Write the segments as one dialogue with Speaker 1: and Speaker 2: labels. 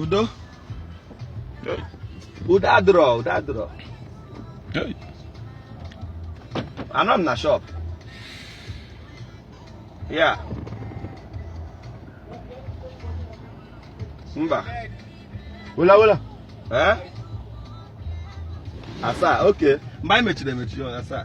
Speaker 1: udo udo adịrọ udo adịrọ anọ m na shop ya mba wela wela eh asaa oke mgbe anyị mechiri emechi asaa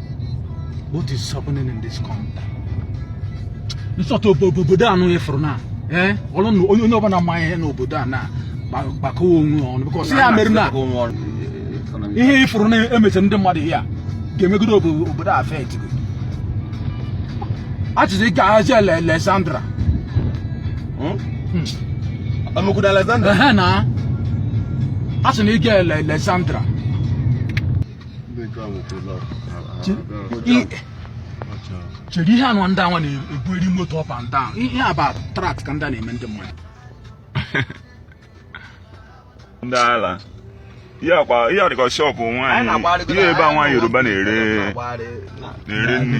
Speaker 1: What is happening in this country? Nsọtụ obodo a nụ ịfụrụ na eh, ọrụ onye onye ọbụla ma ihe n'obodo a na gbakọwa onwe ọnụ because ya mere na ihe ịfụrụ na emecha ndị mmadụ ya ga-emegide obodo a fet achịcha ike ahazi Alexandra ọmụkwụdo hmm? hmm. Alexandra na a sị na ị gaa Alexandra chere ihe anụ ndị anwa na-ebu eri moto up and down ihe a bụ threat ka ndị a na-eme ndị mmadụ ndị ala ihe a dịka shop nwaanyị ihe ebe a nwaanyị Yoruba na-ere nri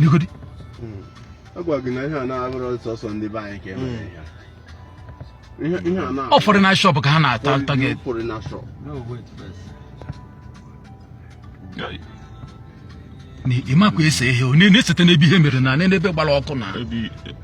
Speaker 1: Negodi. Hmm. Agwa gị na ihe a na-abụrụ sọsọ ndị be anyị ka e mere ya. Ị fụrụ na shop ka ha na-target. Ị makwa isi ihe na-esite n'ebe ihe mere na n'ebe gbara ọkụ na.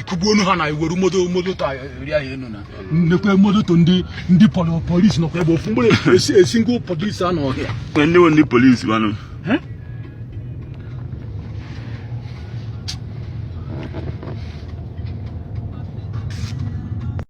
Speaker 1: ịkụgbu onwe ha na iwere moto moto ta eri ahụ enu na nekwa moto ndị ndị pọl- polisi nọkwa ebe ofu mgbere esi esi ngwa polisi anọ ọhịa Kwe ndị wo ndị polisi wanụ. Eh?